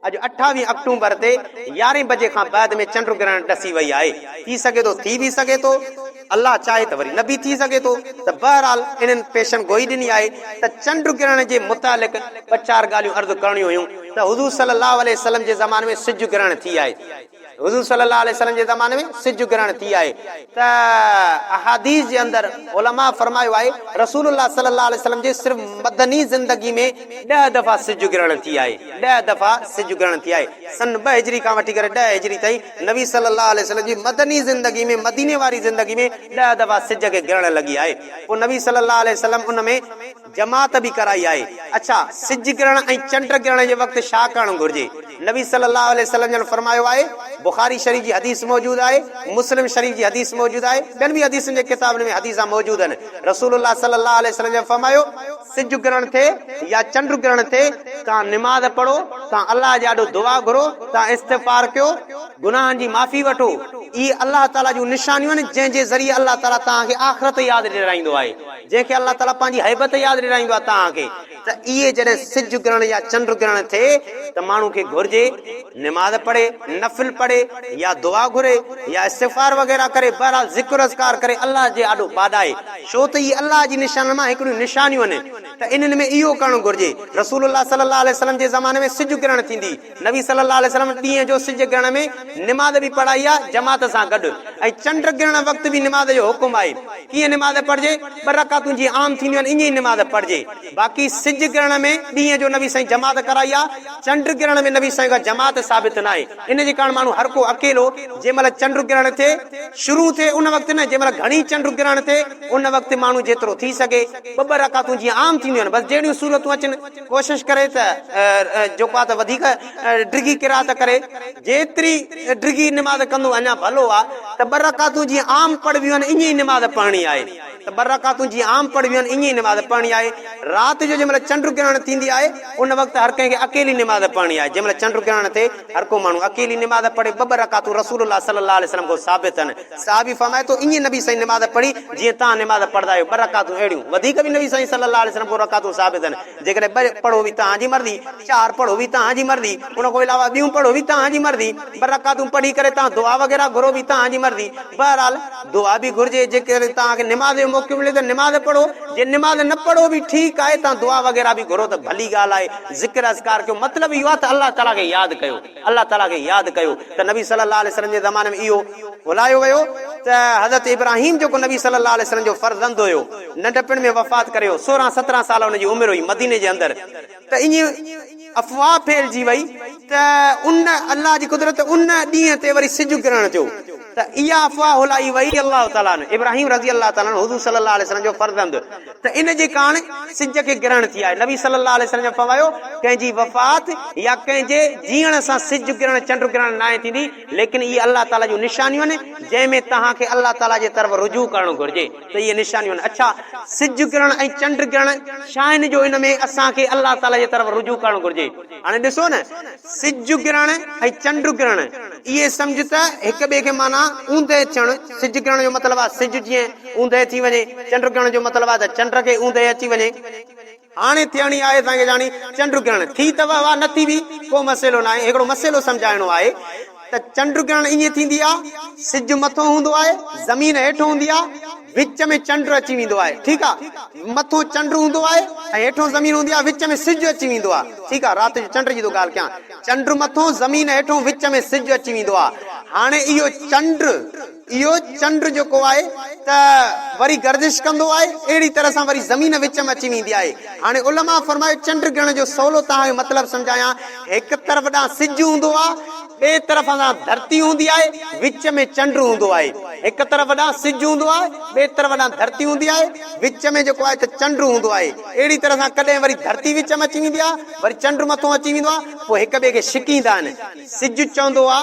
اڄ اٺاويهه آڪٽومبر تي يارهين بجي کان بعد ۾ چنڊ گرهڻ ڏسي وئي آهي، ٿي سگهي ٿو ٿي به سگهي ٿو، الله چاهي ته وري نه به ٿي سگهي ٿو ته بهرحال انهن پيشن گوئي ڏني آهي ته چنڊ گرهڻ جي متعلق ٻه چار ڳالهيون عرض ڪرڻيون هيون ته حضور صلي الله عليه وسلم جي زماني ۾ سج گرهڻ ٿي آهي. حضور صلي الله عليه وسلم جي زماني ۾ سج گرهڻ ٿي آهي ته احاديث جي اندر علماء فرمايو آهي رسول الله صلي الله عليه وسلم جي صرف مدني زندگي ۾ ڏهه دفعا سج گرهڻ ٿي آهي ڏهه دفعا سج گرهڻ ٿي آهي سن ٻه هجري کان وٺي ڪري ڏهه هجري تائين نبي صلي الله عليه وسلم جي مدني زندگي ۾ مديني واري زندگي ۾ ڏهه دفعا سج کي گرهڻ لڳي آهي پوء نبي صلي الله عليه وسلم ان ۾ جماعت به ڪرائي آهي. اڇا، سج ڪرڻ ۽ چنڊ ڪرڻ جي وقت ڇا ڪرڻ گهرجي؟ نبي صلي الله عليه وسلم جن فرمايو آهي، بخاري شريف جي حديث موجود آهي، مسلم شريف جي حديث موجود آهي، ٻين به حديثن جي ڪتابن ۾ حديث موجود آهن، رسول الله صلي الله عليه وسلم جن فرمايو، سج ڪرڻ ٿئي يا چنڊ ڪرڻ ٿئي، توهان نماز پڙهو، توهان الله جي آڏو دعا گهرو، توهان استغفار ڪيو، گناهن جي معافي وٺو، اهي الله تعاليٰ جون نشانيون آهن، جنهن جي ذريعي الله تعاليٰ توهان کي آخرت ياد ڏيرائيندو آهي. جنهن کي الله تعاليٰ پنهنجي هيبت ياد ڏيرائيندو آهي توهان کي ته اهي جڏهن سج گرهڻ يا چنڊ گرهڻ ٿئي ته ماڻهو کي گهرجي نماز پڙهي، نفل پڙهي يا دعا گهري يا استغفار وغيره ڪري بهرحال ذڪر و اذڪار ڪري الله جي آڏو ٻاڏائي ڇو ته اهي الله جي نشانن مان هڪڙيون نشانيون آهن ته انهن ۾ اهو ڪرڻ گهرجي رسول الله صلي الله عليه وسلم جي زماني ۾ سج گرهڻ ٿيندي نبي صلّي اللّٰه عليه وسلّم ڏينهن جو سج گرهڻ ۾ نماز به پڙهائي آهي جماعت سان گڏ ۽ چنڊ گرهڻ وقت به نماز جو حڪم آهي. ڪيئن نماز پڙهجي؟ ٻه رڪعتون جيئن عام ٿينديون آهن ائين ئي نماز پڙهجي. باقي سج گرهڻ ۾ ڏينهن جو نبي سائين جماعت ڪرائي آهي، چنڊ گرهڻ ۾ نبي سائين کان جماعت ثابت ناهي. ان جي ڪارڻ ماڻهو هر ڪو اڪيلو جنهن مهل چنڊ گرهڻ ٿئي، شروع ٿئي ان وقت نه جنهن مهل گهڻي چنڊ گرهڻ ٿئي ان وقت ماڻهو جيترو ٿي سگهي ٻه ٻه رڪعتون جيئن عام ٿينديون آهن بس جهڙيون سهولتون اچن ڪوشش ڪري ته جيڪو آهي ته وڌيڪ ڊگهي قرائت ڪري، جيتري ڊگهي نماز ڪندو اڃا ڀلو آهي ته ٻه رڪعتون جيئن عام پڙهبيون آهن ائين ئي نماز پڙهڻي آهي ته ٻه رڪعتون جيئن عام پڙهبيون آهن ائين ئي نماز پڙهڻي آهي، رات جو جنهن مهل چنڊ گرهڻ ٿيندي آهي ان وقت هر ڪنهن کي اڪيلي نماز پڙهڻي آهي، جنهن مهل چنڊ گرهڻ ٿئي هر ڪو ماڻهو اڪيلي نماز پڙهي ٻه ٻه رڪعتون رسول الله صلي الله عليه وسلم کان ثابت آهن. صحابي فرمائي ٿو ائين نبي سائين نماز پڙهي جيئن توهان نماز پڙهندا آهيو، ٻه رڪعتون اهڙيون، وڌيڪ به نبي سائين صلي الله عليه وسلم کان رڪعتون ثابت آهن، جيڪڏهن ٻه پڙهو هي توهان جي مرضي، چار پڙهو هي توهان جي مرضي، ان کان علاوه ٻيون پڙهو هي توهان جي مرضي، ٻه رڪعتون پڙهي ڪري توهان دعا وغيره گهرو هي توهان جي مرضي، بهرحال دعا به گهرجي، جيڪڏهن توهان کي نماز جو موقعو ملي ته نماز پڙهو، جي نماز نه پڙهو به ٺيڪ آهي، توهان دعا وغيره به گهرو ته ڀلي ڳالهه آهي، ذڪر اذڪار ڪيو، مطلب اهو آهي ته الله تعالي کي ياد ڪيو. الله تعاليٰ کي ياد ڪيو ته نبي صلي الله عليه وسلم جي زماني ۾ اهو ڀلايو ويو ته حضرت ابراهيم جيڪو نبي صلي الله عليه وسلم جو فرزند هيو ننڍپڻ ۾ وفات ڪري ويو سورهن سترهن سال ان جي عمر هئي مديني جي اندر ته ائين افواهه ڦهلجي وئي ته ان الله جي قدرت ان ڏينهن تي وري سج ڪرڻ جو ته اها افواهه هلائي وئي الله تعالٰي عنه ابراهيم رضي الله تعالٰي عنه حضور صلّي الله عليه وسلّم جو فرزند ته ان جي ڪاڻ سج کي گرهڻ ٿي آهي نبي صلّي الله عليه وسلّم فرمايو ڪنهن جي وفات يا ڪنهن جي جيئڻ سان سج گرهڻ چنڊ گرهڻ ناهي ٿيندي ليڪن اهي الله تعالٰي جون نشانيون آهن جنهن ۾ توهان کي الله تعالٰي جي طرف رجوع ڪرڻ گهرجي ته اهي نشانيون آهن اڇا سج گرهڻ ۽ چنڊ گرهڻ شاهن جو ان ۾ اسان کي الله تعالٰي جي طرف رجوع ڪرڻ گهرجي هاڻي ڏسو نه، سج ڪرڻ ۽ چنڊ ڪرڻ، اهي سمجهه ته هڪ ٻئي کي معنيٰ اوندهه چڻ، سج ڪرڻ جو مطلب آهي سج جيئن اوندهه ٿي وڃي، چنڊ ڪرڻ جو مطلب آهي ته چنڊ کي اوندهه اچي وڃي. هاڻي ٿيڻي آهي اسان کي جاڻي، چنڊ ڪرڻ ٿي ته واهه واهه، نه ٿي به ڪو مسئلو ناهي، هڪڙو مسئلو سمجهائڻو آهي. ته چنڊ گرهڻ ائين ٿيندي آهي، سج مٿو هوندو آهي، زمين هيٺ هوندي آهي، وچ ۾ چنڊ اچي ويندو آهي، ٺيڪ آهي، مٿو چنڊ هوندو آهي ۽ هيٺون زمين هوندي آهي، وچ ۾ سج اچي ويندو آهي، ٺيڪ آهي، رات جو چنڊ جي ٿو ڳالهه ڪيان، چنڊ مٿو، زمين هيٺون، وچ ۾ سج اچي ويندو آهي، هاڻي اهو چنڊ. اهو چنڊ جيڪو آهي ته وري گردش ڪندو آهي اهڙي طرح سان وري زمين وچ ۾ اچي ويندي آهي هاڻي علماء فرمايو چنڊ گڻ جو سولو توهان کي مطلب سمجهايان هڪ طرف ڏانهن سج هوندو آهي ٻئي طرف ڏانهن ڌرتي هوندي آهي وچ ۾ چنڊ هوندو آهي هڪ طرف ڏانهن سج هوندو آهي ٻئي طرف ڏانهن ڌرتي هوندي آهي وچ ۾ جيڪو آهي ته چنڊ هوندو آهي اهڙي طرح سان ڪڏهن وري ڌرتي وچ ۾ اچي ويندي آهي وري چنڊ مٿو اچي ويندو آهي پوء هڪ ٻئي کي ڇڪيندا آهن سج چوندو آ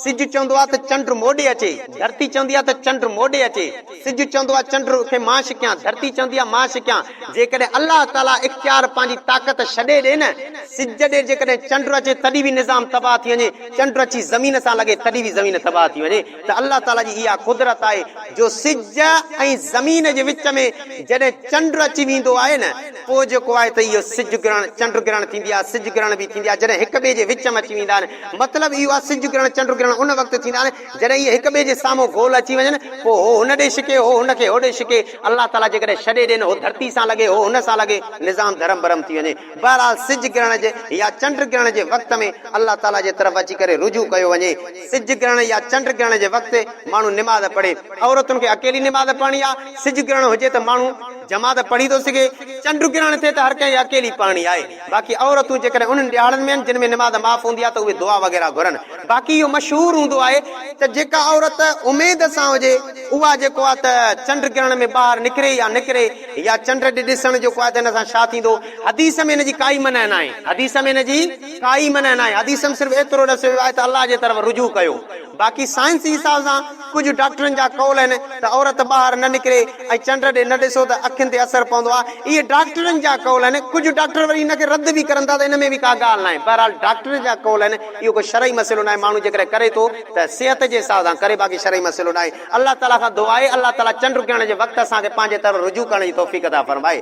سج چوندو آ ته چنڊ موڏي اچي ڌرتي چوندي آ ته چنڊ موڏي اچي سج چوندو آ چنڊ کي مان ڇڪيان ڌرتي چوندي آ مان ڇڪيان جيڪڏهن الله تعاليٰ اختيار پنهنجي طاقت ڇڏي ڏي نه سج ڏي جيڪڏهن چنڊ اچي تڏهن به نظام تباهه ٿي وڃي چنڊ اچي زمين سان لڳي تڏهن به زمين تباهه ٿي وڃي ته الله تعاليٰ جي اها قدرت آهي جو سج ۽ زمين جي وچ ۾ جڏهن چنڊ اچي ويندو آهي نه پوء جيڪو آهي ته اهو سج گرهڻ چنڊ گرهڻ ٿيندي آهي سج گرهڻ به ٿيندي آهي جڏهن هڪ ٻئي جي وچ ۾ اچي ويندا آهن مطلب اهو آهي سج گرهڻ چنڊ گرهڻ ان وقت ٿيندا آهن جڏهن اهي هڪ ٻئي جي سامهون گول اچي وڃن پوء هو هن ڏي ڇڪي هو هن کي هوڏي ڇڪي الله تعاليٰ جيڪڏهن ڇڏي ڏين هو ڌرتي سان لڳي هو هن سان لڳي نظام ڌرم برم ٿي وڃي بهرحال سج گرهڻ جي يا چنڊ گرهڻ جي وقت ۾ الله تعاليٰ جي طرف اچي ڪري رجوع ڪيو وڃي سج گرهڻ يا چنڊ گرهڻ جي وقت ماڻهو نماز پڙهي. عورتن کي اڪيلي نماز پڙهڻي آهي. سج گرهڻ هجي ته ماڻهو جماعت پڙهي ٿو سگهي. چنڊ گرهڻ ٿئي ته هر ڪنهن کي اڪيلي پڙهڻي آهي. باقي عورتون جيڪڏهن انهن ڏهاڙن ۾ آهن جن ۾ نماز معاف هوندي آهي ته اهي دعا وغيره گهرن. باقي اهو مشهور هوندو آهي ته جيڪا عورت اميد سان هجي اها جيڪو آهي ته چنڊ گرهڻ ۾ ٻاهر نڪري يا نه ڪري يا چنڊ ڏي ڏسڻ جيڪو آهي ته ان سان ڇا ٿيندو. حديث ۾ ان جي ڪائي منع ناهي. حديث ۾ ان جي. ڪائي منع ناهي، حديث ۾ صرف ايترو ڏسيو ويو آهي ته الله جي طرف رجوع ڪيو، باقي سائنسي حساب سان ڪجهه ڊاڪٽرن جا قول آهن ته عورت ٻاهر نه نڪري ۽ چنڊ ڏي نه ڏسو ته اکين تي اثر پوندو آهي، اهي ڊاڪٽرن جا قول آهن، ڪجهه ڊاڪٽر وري ان کي رد به ڪرن ٿا ته ان ۾ به ڪا ڳالهه ناهي، بهرحال ڊاڪٽرن جا قول آهن، اهو ڪو شرعي مسئلو ناهي، ماڻهو جيڪڏهن ڪري ٿو ته صحت جي حساب سان ڪري باقي شرعي مسئلو ناهي، الله تعاليٰ کان دعا آهي الله تعاليٰ چنڊ ڪرڻ جي وقت اسان کي پنهنجي طرف رجوع ڪرڻ جي توفيق عطا فرمائي.